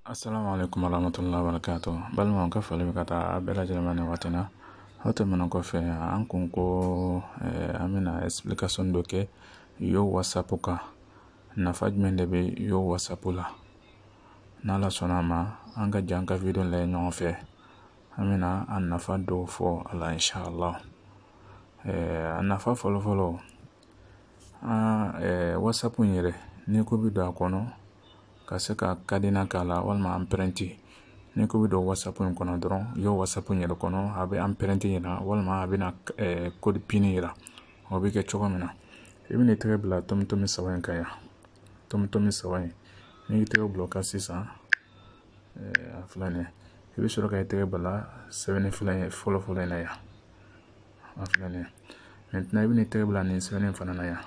assalamu alaikum warahmatullahi wabarakatuh balimaw ka foli bɛ ka taa a bɛɛ lajɛlen ma nin waati na o tɛmɛnen kɔfɛ an kun ko eh, an bɛna explication dɔ kɛ yo whatsapp kan nafa jumɛn de bɛ yo whatsapp la n'ala sɔnna a ma an ka jɛn ka video lajɛ ɲɔgɔn fɛ an bɛna a nafa dɔw fɔ a la inshallah eh, a nafa fɔlɔfɔlɔ an eh, whatsapp in yɛrɛ n'i ko i bɛ don a kɔnɔ ka se ka cadenas k'a la walima empreinte n'i ko i bɛ don whatsapp in kɔnɔ dɔrɔn yo whatsapp in yɛrɛ kɔnɔ a bɛ empreinte yira walima a bɛna eh, code pin yira o bɛ kɛ cogo min na i bɛna i tɛgɛ bila tomitomi saba in kan yan tomitomi saba in n'i y'i tɛgɛ bila o kan sisan eh, a filɛ nin ye i bɛ sɔrɔ ka i tɛgɛ bila sɛbɛnni fila in fɔlɔ fɔlɔ in na yan a filɛ nin maintenant i bɛna i tɛgɛ bila nin sɛbɛnni fana na yan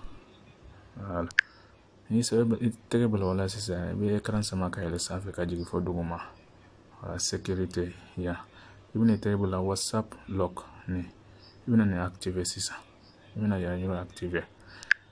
n'i y'i tɛgɛ bila o la sisan i bɛ écran sama ka yɛlɛ sanfɛ ka jigin fo duguma sécurité yan i bɛna i tɛgɛ bila whatsapp lock nin i bɛna nin activer sisan i bɛna yan yɔrɔ activer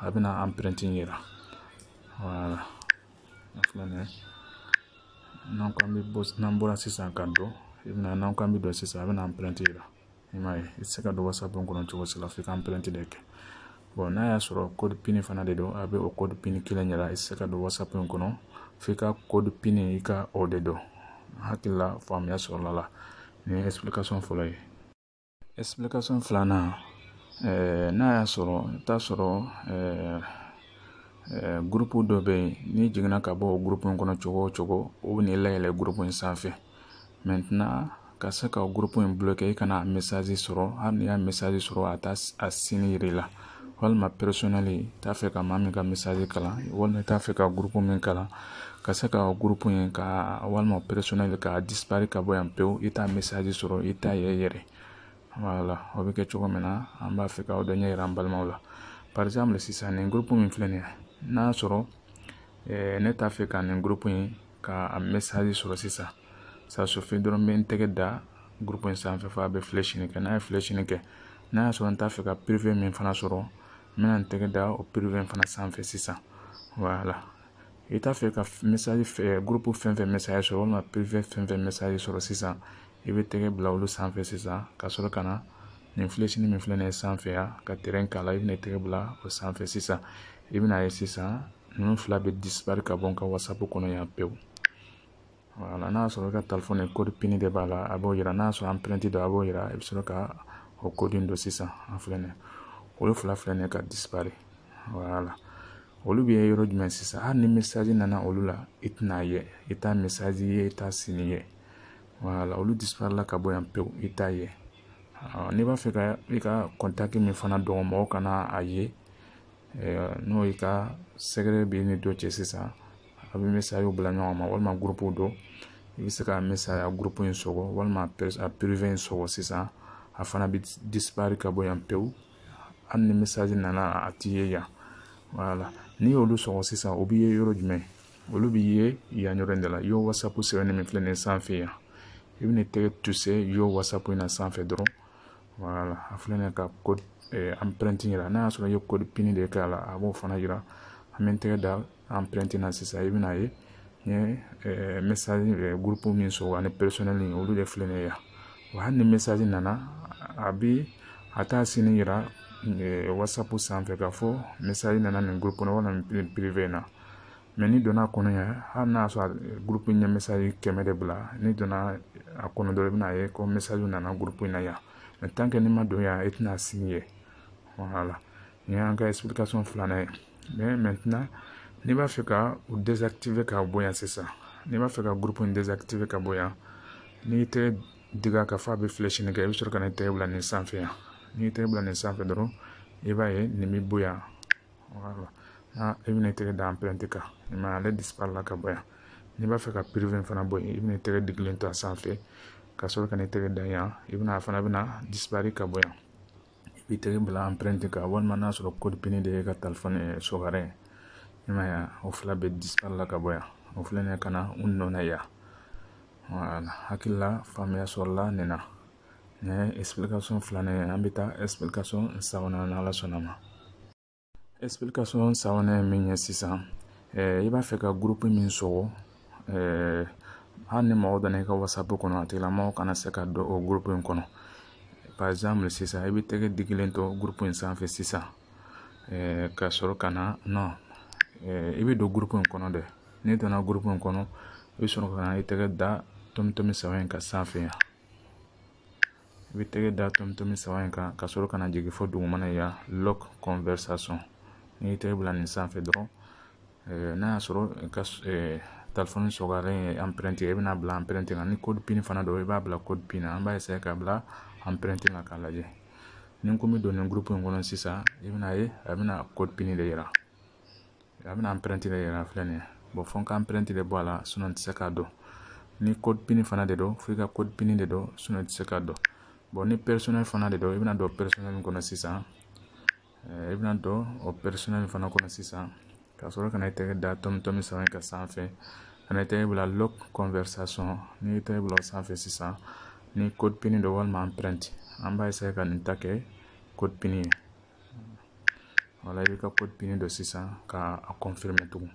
a bɛna empreinte yira voilà a filɛ nin ye n'an k'an bɛ bɔ n'an bɔra sisan ka don i bɛna n'an k'an bɛ don sisan a bɛna empreinte yira i m'a ye i tɛ se ka don whatsapp in kɔnɔ cogo si la f'i ka empreinte de kɛ bon n'a y'a sɔrɔ code pin fana de don a bɛ o code pin kelen yira i tɛ se ka don whatsapp in kɔnɔ f'i ka code pin i ka o de don hakili la faamuya sɔrɔla la nin ye explication fɔlɔ ye filanan eh, n'a y'a sɔrɔ i bɛ taa sɔrɔ eh, eh, gurupu dɔ bɛ yen n'i jiginna ka bɔ gurupu in kɔnɔ cogo o cogo o bɛna i layɛlɛ gurupu in sanfɛ maintenant ka se ka gurupu in bloquer i kana message sɔrɔ hali n'i y'a message sɔrɔ a t'a a signe yira i la walima personnel i t'a fɛ ka maa min ka message kalan walima i t'a fɛ ka gurupu min kalan ka se ka gurupu in ka walima personnel ka disparu ka bɔ yan pewu i t'a message sɔrɔ i t'a ye yɛrɛ voilà o bɛ kɛ cogo min na an b'a fɛ k'o dɔ ɲɛ yira an balimaw la par exemple sisan nin gurupu min filɛ nin ye n'a sɔrɔ eh, ne t'a fɛ ka nin gurupu in ka message sɔrɔ sisan ça suffit dɔrɔn n bɛ n tɛgɛ da gurupu in sanfɛ fo a bɛ flèche nin kɛ n'a ye flèche nin kɛ n'a y'a sɔrɔ n t'a fɛ ka privé min fana sɔrɔ n bɛna n tɛgɛ da o privé in fana sanfɛ sisan voilà i t'a fɛ ka message fɛ eh, gurupu fɛn fɛn message sɔrɔ walima privé fɛn fɛn message sɔrɔ sisan i bɛ tɛgɛ bila olu sanfɛ sisan ka sɔrɔ ka na nin flèche nin min filɛ nin ye sanfɛ yan ka terɛn k'a la i bɛna i tɛgɛ bila o sanfɛ sisan i bɛna a ye sisan ninnu fila bɛ disparu ka bɔ n ka whatsapp kɔnɔ yan pewu voilà n'a sɔrɔ i ka telefɔni code pin de b'a la a b'o yira n'a sɔrɔ empreinte don a b'o yira i bɛ sɔrɔ ka o code don sisan a filɛ nin olu fila filɛ nin ka disparaître voilà olu bɛ yɔrɔ jumɛn sisan hali ni message nana olu la i tɛna ye i t'a message ye i t'a signe ye voilà olu disparaître la ka bɔ yan pewu i t'a ye n'i b'a fɛ ka i ka contact min fana dogo mɔgɔw kana a ye n'o i ka secret b'i ni dɔ cɛ sisan a bɛ message bila ɲɔgɔn ma walima groupew don i bɛ se ka message groupe in sɔgɔ walima a privé in sɔgɔ sisan a fana bɛ disparaître ka bɔ yan pewu hali ni message nana a tɛ ye yan voilà n'i y'olu sɔgɔ sisan o bɛ ye yɔrɔ jumɛn olu bɛ ye yan yɔrɔ in de la yo whatsapp sɛbɛnnen min filɛ nin ye sanfɛ yan i bɛna tɛgɛ toucher yo whatsapp in na sanfɛ dɔrɔn voilà a filɛ nin ye ka code eh, empreinte yira n'a y'a sɔrɔ i ye code pin de k'a la a b'o fana yira an bɛ n tɛgɛ da empreinte na sisan i bɛna ye n ye eh, message eh, groupe min sɔgɔ ani personnel in olu de filɛ nin yan wa hali ni message nana a bi a t'a signe yira eh, whatsapp sanfɛ k'a fɔ message nana nin groupe kɔnɔ walima nin privé in na mais n'i donna a kɔnɔ yan hali n'a sɔrɔ groupe in ye message kɛmɛ de bila n'i donna a kɔnɔ dɔrɔn i bɛna ye ko message nana groupe in na yan mais tant que n'i ma don yan i tɛna signe ye voilà Nin y'an ka explication filanan ye mais maintenant n'i b'a fɛ ka u désactiver ka bɔ yan sisan n'i b'a fɛ ka groupe in désactiver ka bɔ yan n'i tɛgɛ digi a kan fɔ a bɛ flèche nin kɛ i bɛ sɔrɔ ka na i tɛgɛ bila nin sanfɛ yan n'i tɛgɛ bila nin sanfɛ dɔrɔn i b'a ye nin bɛ bɔ yan voilà n'a i bɛna i tɛgɛ da empreinte kan i m'a ye ale disparaître la ka bɔ yan n'i b'a fɛ ka privé in fana bɔ yen i bɛna i tɛgɛ digilen to a sanfɛ ka sɔrɔ ka n'i tɛgɛ da yan i bɛna a fana bɛna disparaître ka bɔ yan i b'i tɛgɛ bila empreinte kan walima n'a sɔrɔ code pin de y'i ka telefɔni secret i m'a ye o fila bɛɛ disparaître la ka bɔ yan o filɛ nin ka na u nɔ na yan hakili la faamuya sɔrɔla nin na nin ye explication filanan ye an bɛ taa explication sabanan n'ala sɔnna ma explication sabanan ye min ye sisan i b'a fɛ ka groupe min sɔgɔ hali ni mɔgɔ donna i ka whatsapp kɔnɔ a tigilamɔgɔ kana se ka don o groupe in kɔnɔ par exemple sisan i bɛ tɛgɛ digilen to groupe in sanfɛ sisan ka sɔrɔ ka na non i bɛ don groupe in kɔnɔ dɛ n'i donna groupe in kɔnɔ i bɛ sɔrɔ ka na i tɛgɛ da tomi tomi saba in kan sanfɛ yan i bɛ tɛgɛ da tomi tomi saba in kan ka sɔrɔ ka na jigin fɔ dugumana yan lock conversation n'i y'i tɛgɛ bila nin sanfɛ dɔrɔn eh, n'a y'a sɔrɔ i ka eh, telefɔni secret ye empreinte i bɛna bila empreinte kan ni code pin fana don i b'a bila code pin na an b'a essayer ka bila empreinte kan k'a lajɛ ni n ko n bɛ don nin groupe in kɔnɔ sisan i bɛna ye a bɛna code pin de yira a bɛna empreinte de yira filɛ nin ye bon fo n ka empreinte de bɔ a la sinon n tɛ se ka don ni code PIN fana de don fo i ka code PIN de don sinon i tɛ se ka don bon ni personnel fana de don i bɛna don personnel min kɔnɔ sisan i bɛna don o personnel fana kɔnɔ sisan ka sɔrɔ ka na i tɛgɛ da tomi tomi saba in kan sanfɛ ka na i tɛgɛ bila lock conversation n'i y'i tɛgɛ bila o sanfɛ sisan ni code PIN don walima empreinte an b'a essayer ka nin ta kɛ code PIN ye voilà i b'i ka code PIN don sisan ka a confirmer tugun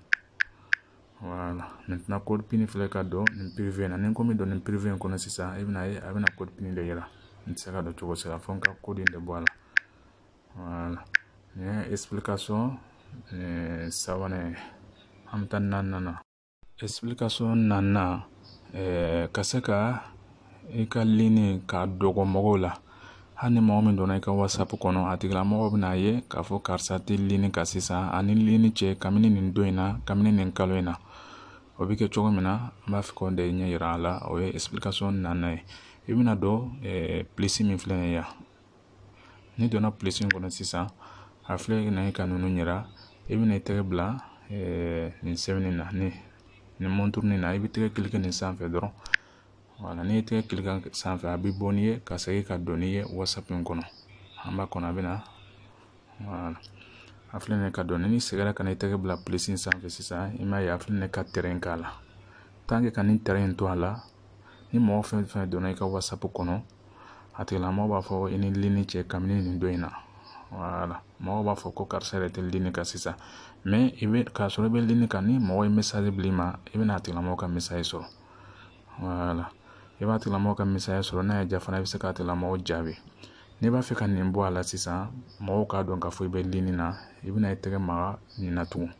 voilà maintenant code PIN filɛ ka don nin privé na ni n ko n bɛ don nin privé in kɔnɔ sisan i bɛna ye a bɛna code PIN de yira n tɛ se ka don cogo si la fo n ka code in de bɔ a la voilà nin ye explication sabanan ye an bɛ taa naaninan na explication naaninan eh, ka se ka i ka ligne kan dogo mɔgɔw la hali ni mɔgɔ min donna i ka whatsapp kɔnɔ a tigilamɔgɔ bɛna ye k'a fɔ karisa tɛ ligne kan sisan a ni ligne cɛ kabini nin don in na kabini nin kalo in na o bɛ kɛ cogo min na an b'a fɛ k'o de ɲɛ yira a la o ye explication naaninan ye i bɛna don eh, plus min filɛ nin ye yan n'i donna plus in kɔnɔ sisan a filɛ na ye ka ninnu yira i bɛna i tɛgɛ bila eh, nin sɛbɛnni na ni nin mɔnturunin na i b'i tɛgɛ cliquer nin sanfɛ dɔrɔn voilà n'i y'i tɛgɛ cliquer sanfɛ a bɛ bɔ n'i ye ka segin ka don n'i ye whatsapp in kɔnɔ an b'a kɔnɔ a bɛ na voilà a filɛ nin ye ka don n'i seginna ka na i tɛgɛ bila plus in sanfɛ sisan i m'a ye a filɛ nin ye ka trait k'a la tant que ka nin trait in to a la ni mɔgɔ fɛn fɛn donna i ka whatsapp kɔnɔ a tigilamɔgɔ b'a fɔ i ni ligne cɛ kabini nin don in na voilà mɔgɔw b'a fɔ ko karisa yɛrɛ tɛ ligne kan sisan mais i bɛ k'a sɔrɔ i bɛ ligne kan ni mɔgɔ ye message bil'i ma i bɛna a tigilamɔgɔ ka message sɔrɔ voilà i b'a tigilamɔgɔ ka message sɔrɔ n'a y'i diya fana i bɛ se k'a tigilamɔgɔ jaabi n'i b'a fɛ ka nin bɔ a la sisan mɔgɔw k'a dɔn k'a fɔ i bɛ ligne na i bɛna i tɛgɛ maga nin na tugun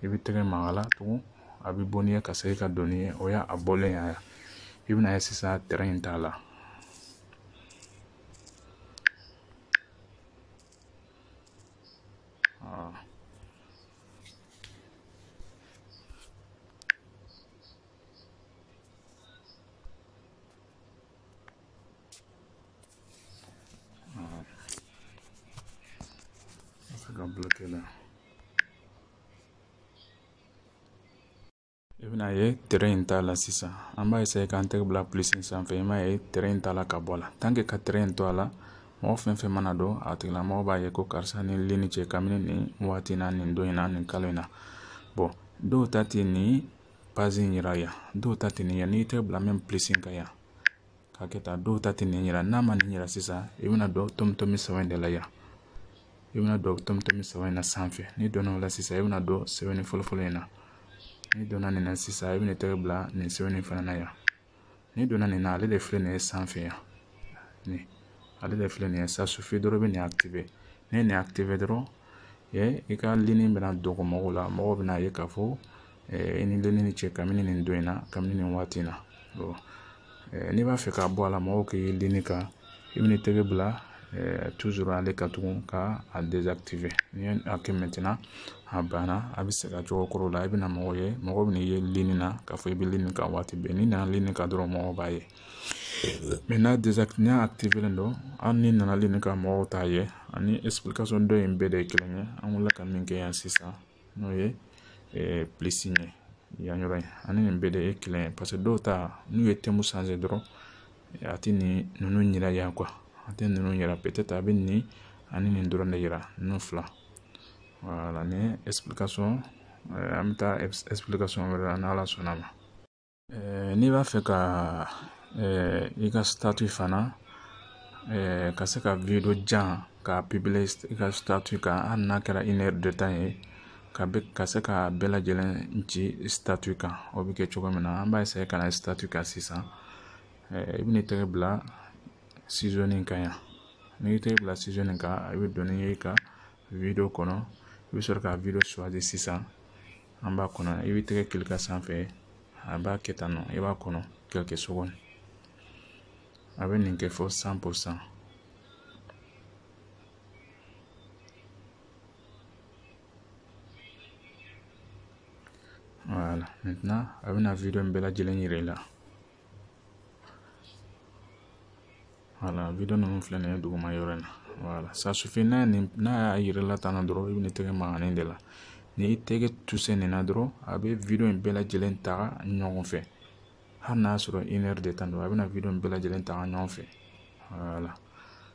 i b'i tɛgɛ maga a la tugun a bɛ bɔ n'i ye ka segin ka don n'i ye o y'a bɔlen ye i bɛna ye sisan trait in t'a la ka bloquer la I bɛna ye trait in t'a la sisan an b'a essayer k'an tɛgɛ bila plus in sanfɛ i m'a ye trait in t'a la ka bɔ a la tant que ka trait in to a la mɔgɔ fɛn fɛn mana don a tigilamɔgɔ b'a ye ko karisa ni ligne cɛ kabini nin waati in na nin don in na nin kalo in na bon dɔw ta tɛ nin page in yira yan dɔw ta tɛ nin yan n'i tɛgɛ bila nin plus in kan yan k'a kɛ tan dɔw ta tɛ nin yira n'a ma nin yira sisan i bɛna don tomi tomi saba in de la yan i bɛna don tomi tomi saba in na sanfɛ n'i donna o la sisan i bɛna don sɛbɛnni fɔlɔfɔlɔ in na n'i donna nin na sisan i bɛna i tɛgɛ bila nin sɛbɛnni fana na yan n'i donna nin na ale de filɛ nin ye sanfɛ yan nin ale de filɛ nin ye ça suffit dɔrɔn i bɛ nin activer n'i ye nin activer dɔrɔn i ka ligne bɛna dogo mɔgɔw la mɔgɔw bɛn'a ye k'a fɔ i ni ligne in cɛ kabini nin don in na kabini nin waati in na n'i b'a fɛ k'a bɔ a la mɔgɔw k'i ye ligne kan i bɛna i tɛgɛ bila toujours ale kan tugun ka a désactiver n'i ye a kɛ maintenant a banna a bɛ segin a cogo kɔrɔ la i bɛna mɔgɔw ye mɔgɔ bɛna i ye ligne na k'a fɔ i bɛ ligne kan waati bɛɛ n'i nana ligne kan dɔrɔn mɔgɔw b'a ye mais n'a activélen don hali n'i nana ligne kan mɔgɔw t'a ye ani explication dɔ in bɛɛ de ye kelen ye an wulila ka min kɛ yan sisan n'o ye plus ye yan yɔrɔ in ani nin bɛɛ de ye kelen ye parce que dɔw ta n'u ye thème changer dɔrɔn a tɛ nin ninnu yira yan quoi a tɛ ninnu yira peut-être a bɛ nin ani nin dɔrɔn de yira ninnu fila voilà nin explication an bɛ taa explication wɛrɛ la n'ala sɔnn'a ma n'i b'a fɛ ka i ka fana ka se ka jan ka i ka kan hali n'a kɛra ye ka ka se ka bɛɛ lajɛlen ci kan o bɛ kɛ cogo min na an b'a ka na kan sisan i bɛna i tɛgɛ bila in kan yan n'i y'i tɛgɛ bila in kan i bɛ don n'i ye ka kɔnɔ i bɛ sɔrɔ ka sisan an b'a kɔnɔ i bɛ tɛgɛ kili ka sanfɛ a b'a kɛ tan nɔ i b'a kɔnɔ ka kɛ so kɔnɔ a bɛ nin kɛ fɔ san po san wala a bɛna wideyo in bɛɛ lajɛlen yira i la voilà video ninnu filɛ nin ye duguma yɔrɔ in na voilà ça suffit n'a nin n'a y'a yira i la tan na dɔrɔn i bɛna i tɛgɛ maga nin de la ni i tɛgɛ toucher nin na dɔrɔn a bɛ video in bɛɛ lajɛlen ta ɲɔgɔn fɛ hali n'a sɔrɔ une heure de temps don a bɛna video in bɛɛ lajɛlen ta ɲɔgɔn fɛ voilà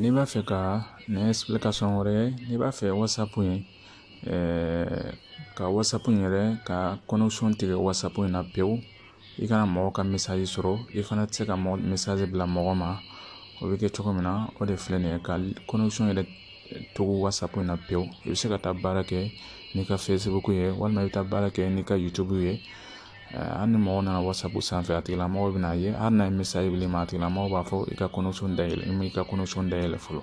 n'i b'a fɛ ka nin explication wɛrɛ n'i b'a fɛ whatsapp in ka whatsapp yɛrɛ ka connexion tigɛ whatsapp in na pewu i kana mɔgɔ ka message sɔrɔ i fana tɛ se ka mɔgɔ message bila mɔgɔ ma o bɛ kɛ cogo min na o de filɛ nin ye ka connexion yɛrɛ tugu whatsapp in na pewu i bɛ se ka taa baara kɛ n'i ka facebook ye walima i bɛ taa baara kɛ n'i ka youtube ye hali ni mɔgɔ nana wasapu sanfɛ a tigilamɔgɔ bɛna ye hali n'a ye message bila i ma a tigilamɔgɔ b'a fɔ i ka connexion dayɛlɛ i ma i ka connexion dayɛlɛ fɔlɔ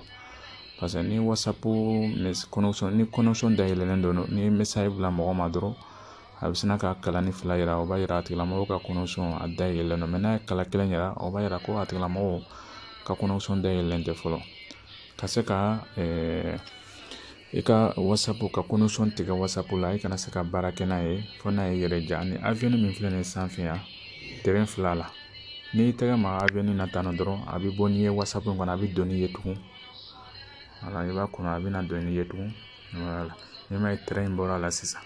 paseke ni wasapu connexion ni connexion dayɛlɛlen don n'i ye message bila mɔgɔ ma dɔrɔn a bɛ sina ka kalanin fila yira o b'a yira a tigilamɔgɔ ka connexion a dayɛlɛlen don n'a ye kala kelen yira o b'a yira ko a tigilamɔgɔ ka connexion dayɛlɛlen tɛ fɔlɔ ka se ka i ka wasapu ka connexion tigɛ wasapu la i kana se ka baara kɛ n'a ye fo n'a y'i yɛrɛ diya ni avion min filɛ nin ye sanfɛ yan tɛrɛn fila la n'i y'i tɛgɛ maga avion na tan dɔrɔn a bɛ bɔ n'i ye wasapu kɔnɔ a bɛ don n'i ye tugun voilà i b'a kɔnɔ a bɛna don n'i ye tugun voilà n'i m'a ye tɛrɛn in bɔra a la sisan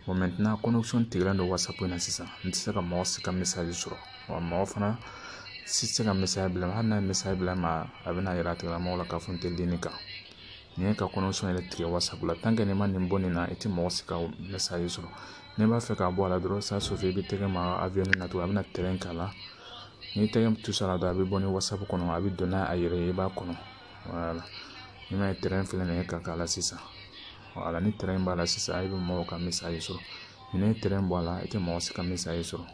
bon maintenant connexion tigɛlen don wasapu in na sisan n tɛ se ka mɔgɔ si ka message sɔrɔ wa mɔgɔ fana si tɛ se ka message bila hali n'a ye message bila n ma a bɛna yira a tigilamɔgɔ la k'a fɔ n tɛ ligne kan nin ka connexion yɛrɛ tigɛ wasapu la tant que n'i ma nin bɔ nin na i tɛ mɔgɔ si ka message sɔrɔ n'i b'a fɛ k'a bɔ a la dɔrɔn ça suffit i bɛ tɛgɛ maga avion na tugun a bɛna tɛrɛn k'a la n'i tɛgɛ toucher a la dɔrɔn a bɛ bɔ ni wasapu kɔnɔ a bɛ don n'a a yɛrɛ ye i b'a kɔnɔ voilà i m'a ye tɛrɛn filɛ nin ye ka k'a la sisan voilà ni tɛrɛn b'a la sisan i bɛ mɔgɔw ka message sɔrɔ n'i ye tɛrɛn bɔ a la i tɛ mɔgɔ si ka message sɔrɔ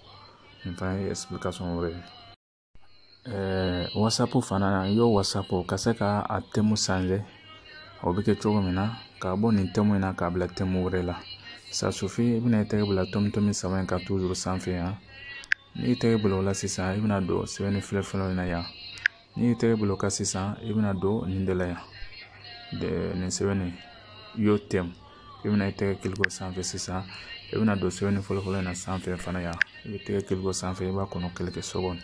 nin fana ye explication wɛrɛ ye wasapu fana na Yo wasapu ka se ka a thème changer o bɛ kɛ cogo min na ka bɔ nin thème in na k'a bila thème wɛrɛ la ça suffit i bɛna i tɛgɛ bila tɔmi tɔmi saba in kan toujours sanfɛ yan n'i y'i tɛgɛ bila o la sisan i bɛna don sɛbɛnni filɛ fɔlɔ in na yan n'i y'i tɛgɛ bila o kan sisan i bɛna don nin de la yan nin sɛbɛnni Yo thème i bɛna i tɛgɛ cliquer o sanfɛ sisan i bɛna don sɛbɛnni fɔlɔfɔlɔ in na sanfɛ fana yan i bɛ tɛgɛ cliquer o sanfɛ i b'a kɔnɔ quelques secondes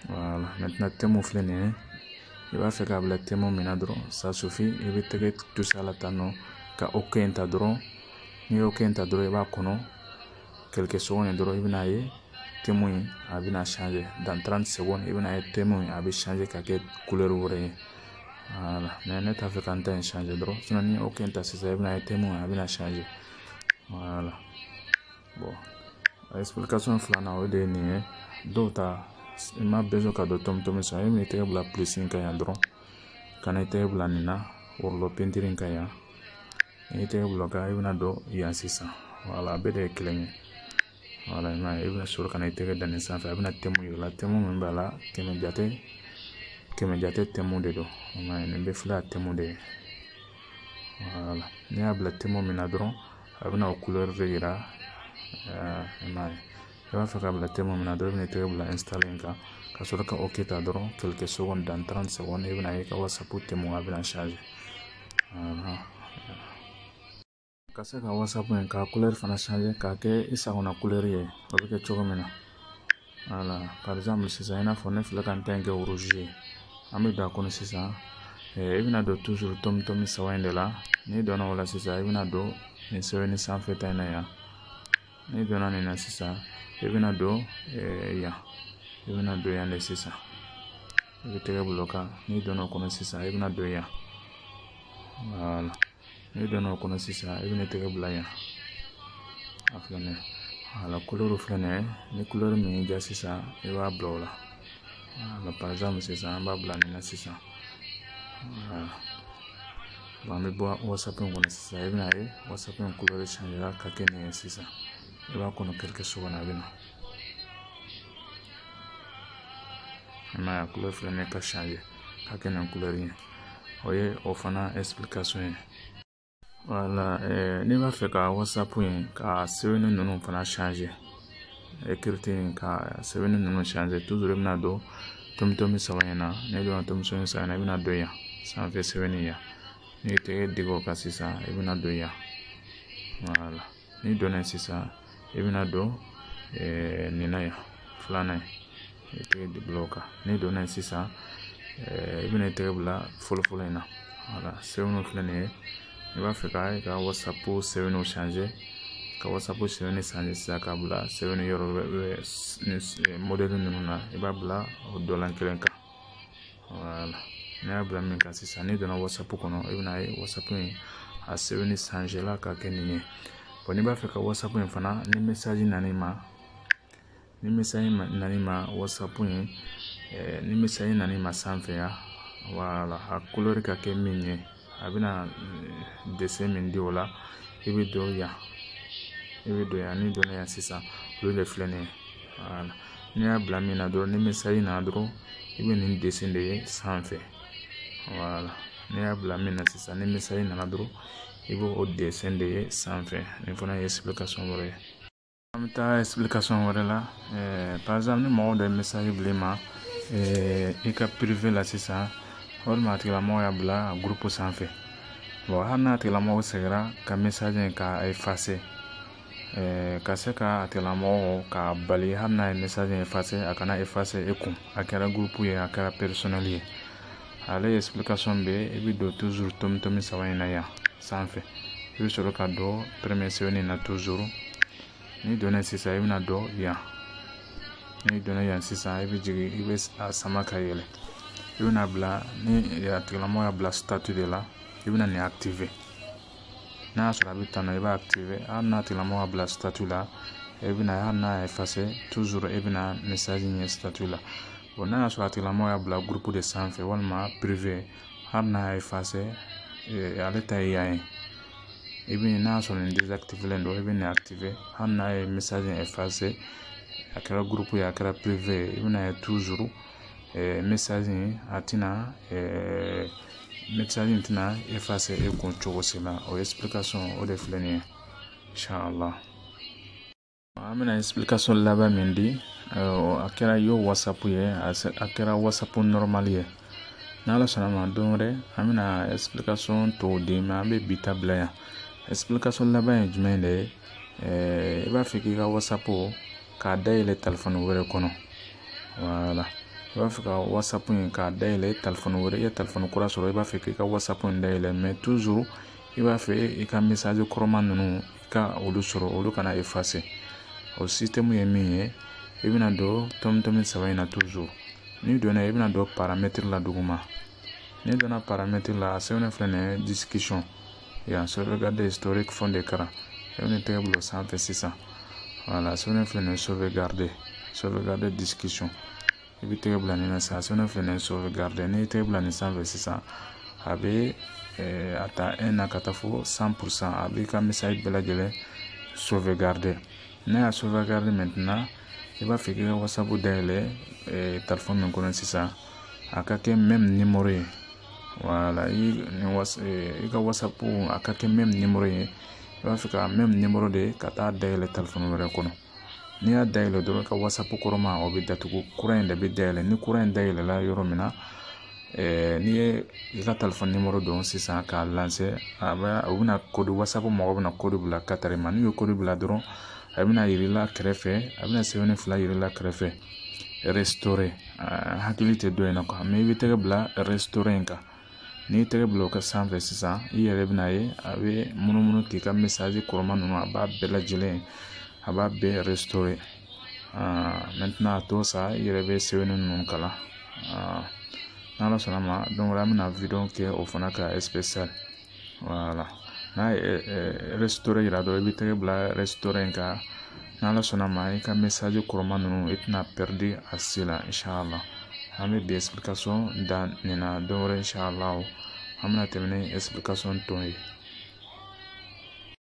voilà maintenant thème filɛ nin ye i b'a fɛ k'a bila thème min na dɔrɔn ça suffit i bɛ tɛgɛ toucher a la tan nɔ ka OK in ta dɔrɔn n'i ye OK in ta dɔrɔn i b'a kɔnɔ quelques secondes dɔrɔn i bɛna ye thème in a bɛna changer dans trente secondes i bɛna ye thème in a bɛ changer ka kɛ kulɛri wɛrɛ ye voilà mais ne t'a fɛ ka n ta in changer dɔrɔn sinon ni OK in ta sisan i bɛna ye thème in a bɛna changer voilà bon explication filanan o de ye nin ye dɔw ta i ma besoin ka don tɔmi tɔmi sɔrɔ i b'i tɛgɛ bila plus in kan yan dɔrɔn ka na i tɛgɛ bila nin na rouleau peinture in kan yan n'i tɛgɛ bila o kan i bɛna don yan sisan voilà a bɛɛ de ye kelen ye voilà i m'a ye i bɛna sɔrɔ ka na i tɛgɛ da nin sanfɛ a bɛna thème yira i la thème min b'a la kɛmɛ jate kɛmɛ jate thème de don i m'a ye nin bɛɛ filɛ a thème de ye voilà n'i y'a bila thème min na dɔrɔn a bɛna o kulɛri de yira i m'a ye i b'a fɛ ka bila thème min na dɔrɔn i bɛna tɛgɛ bila installer kan ka sɔrɔ ka ok ta dɔrɔn quelques secondes dans 30 secondes i bɛna ye ka whatsapp thème a bɛna changer ka se ka whatsapp in ka couleur fana changer k'a kɛ i sagona couleur ye o bɛ kɛ cogo min na voilà par exemple sisan i n'a fɔ ne filɛ ka n ta in kɛ rouge ye an bɛ don a kɔnɔ sisan i bɛna don toujours tomi tomi saba in de la n'i donna o la sisan i bɛna don nin sɛbɛnni sanfɛ ta in na yan n'i donna nin na sisan i bɛna don yan i bɛna don yan de sisan i bɛ tɛgɛ bila o kan n'i donna o kɔnɔ sisan i bɛna don yan voilà n'i donna o kɔnɔ sisan i bɛna tɛgɛ bila yan a filɛ nin ye voilà couleur filɛ nin ye ni couleur min y'i diya sisan i b'a bila o la voilà par exemple sisan an b'a bila nin na sisan voilà an bɛ bɔ wasapu in kɔnɔ sisan i bɛna ye wasapu in kolo bɛ sɛnɛla ka kɛ nin ye sisan i b'a kɔnɔ kɛrɛkɛ so kɔnɔ a bɛ na i m'a ye a kolo filɛ ne ka sɛnɛ ka kɛ nin kulɛri ye o ye o fana ɛsiplikasɔn ye wala n'i b'a fɛ ka wasapu in ka sɛbɛnni ninnu fana écriture ka sɛbɛnni ninnu changer toujours i bɛna don tomi tomi saba in na n'i donna tomi tomi saba in na i bɛna don yan sanfɛ sɛbɛnni yan n'i ye tɛgɛ digi o kan sisan i bɛna don yan voilà n'i donna sisan i bɛna don nin na yan filanan ye i tɛgɛ de bila o kan n'i donna yen sisan i bɛna i tɛgɛ bila fɔlɔfɔlɔ in na voilà sɛbɛnniw filɛ nin ye i b'a fɛ ka i ka whatsapp sɛbɛnniw changer ka whatsapp sɛbɛnni changer sisan k'a bila sɛbɛnni yɔrɔ modèle ninnu na i b'a bila o dɔ la kelen kan voilà n'i y'a bila min kan sisan n'i donna whatsapp kɔnɔ i bɛna ye whatsapp in a sɛbɛnni changer la ka kɛ nin ye bon n'i b'a fɛ ka whatsapp in fana ni message nana i ma ni message nan'i ma whatsapp in ni message nan'i ma sanfɛ yan voilà a couleur ka kɛ min ye a bɛna dessin min di o la i bɛ don yan i bɛ don yan n'i donna yan sisan olu de filɛ nin ye voilà n'i y'a bila min na dɔrɔn ni message nana dɔrɔn i bɛ nin dessin de ye sanfɛ voilà n'i y'a bila min na sisan ni message nana dɔrɔn i b'o dessin de ye sanfɛ nin fana ye explication wɛrɛ ye an bɛ taa explication wɛrɛ la eh, par exemple ni mɔgɔ dɔ ye message bila i ma eh, i ka privé la sisan walima a tigilamɔgɔ y'a bila groupe sanfɛ bon hali n'a tigilamɔgɔ seginna ka message in ka effacer eh, ka se ka a tigilamɔgɔ ka bali hali n'a ye message in effacer a kana effacer e kun a kɛra groupe ye a kɛra personnel ye ale explication bɛ i bɛ don toujours tomi tomi saba in na yan sanfɛ i bɛ sɔrɔ ka don premier sɛbɛnni na toujours n'i donna sisan i bɛna don yan n'i donna yan sisan i bɛ jigin i bɛ a sama ka yɛlɛ i bɛna bila ni a tigilamɔgɔ y'a bila statut de la i bɛna nin activer n'a y'a sɔrɔ a bɛ tan na i b'a activer hali n'a tigilamɔgɔ y'a bila statut la e bɛna hali n'a y'a effacer toujours e bɛna message ye statut la bon n'a y'a sɔrɔ a tigilamɔgɔ y'a bila groupe de sanfɛ walima privé hali n'a y'a effacer eh, ale ta ye yan ye i bɛ n'a y'a sɔrɔ nin désactivélen don i bɛ nin activer hali n'a ye message effacer a kɛra groupe ye a kɛra privé ye i bɛna ye toujours eh, message in a tɛna eh, message in tɛna effacer e kun cogo si la o explication o de filɛ nin ye inshallah an bɛna explication laban min di a kɛra yo whatsapp ye a kɛra whatsapp normal ye n'ala sɔnna ma don wɛrɛ an bɛna explication tɔw di mais an bɛ bi ta bila yan explication laban ye jumɛn de ye i b'a fɛ k'i ka whatsapp k'a dayɛlɛ telefɔni wɛrɛ kɔnɔ voilà i b'a fɛ ka whatsapp in k'a dayɛlɛ telefɔni wɛrɛ i ye telefɔni kura sɔrɔ i b'a fɛ k'i ka whatsapp in dayɛlɛ mais toujours i b'a fɛ i ka message kɔrɔma ninnu ka olu sɔrɔ olu kana effacer o système ye min ye i bɛna don tomi tomi saba in na toujours n'i donna i bɛna don paramètre la duguma n'i donna paramètre la a sɛbɛnnen filɛ nin ye discussion yan sauvegarde historique fond d'écran i bɛna tɛgɛ bila o sanfɛ sisan voilà a sɛbɛnnen filɛ nin ye sauvegarde sauvegarde discussion i bɛ tɛgɛ bila nin na sisan sɛbɛnnen filɛ nin ye sauvegarde n'i ye tɛgɛ bila nin sanfɛ sisan a bɛ a ta un na ka taa fo cent pour cent a b'i ka message bɛɛ lajɛlen sauvegarder n'a y'a sauvegarder maintenant i b'a fɛ k'i ka whatsapp dayɛlɛ telefɔni min kɔnɔ sisan a ka kɛ même numéro ye voilà i i ka whatsapp a ka kɛ même numéro ye i b'a fɛ ka même numéro de ka taa dayɛlɛ telefɔni wɛrɛ kɔnɔ n'i y'a dayɛlɛ dɔrɔn ka whatsapp kɔrɔma o bɛ datugu kura in de bɛ dayɛlɛ ni kura in dayɛlɛla yɔrɔ min na n'i ye i ka telefɔni numéro don sisan k'a lancer a bɛ u bɛna code whatsapp mɔgɔw bɛna code bila ka t'a d'i ma n'u ye code bila dɔrɔn a bɛna yir'i la kɛrɛfɛ a bɛna sɛbɛnni fila yir'i la kɛrɛfɛ restaurer hakili tɛ dɔ in na quoi mais i bɛ tɛgɛ bila restaurer in kan n'i ye tɛgɛ bila o kan sanfɛ sisan i yɛrɛ bɛna ye a bɛ munumunu k'i ka message kɔrɔma ninnu a b'a bɛɛ lajɛlen a b'a bɛɛ restaurer maintenant a to sa i yɛrɛ bɛ sɛbɛnni ninnu kalan n'ala sɔnna ma don wɛrɛ an bɛna vidéo kɛ o fana ka wala n'a ye rɛsitɔrɔ yira dɔrɔn i bɛ tɛgɛ bila rɛsitɔrɔ in kan n'ala sɔnna ma i ka mesaji kɔrɔma ninnu i tɛna pɛridi a si la inshala an bɛ bi esipilikasɔn dan nin na don wɛrɛ inshala an bɛna tɛmɛ ni esipilikasɔn tɔ in ye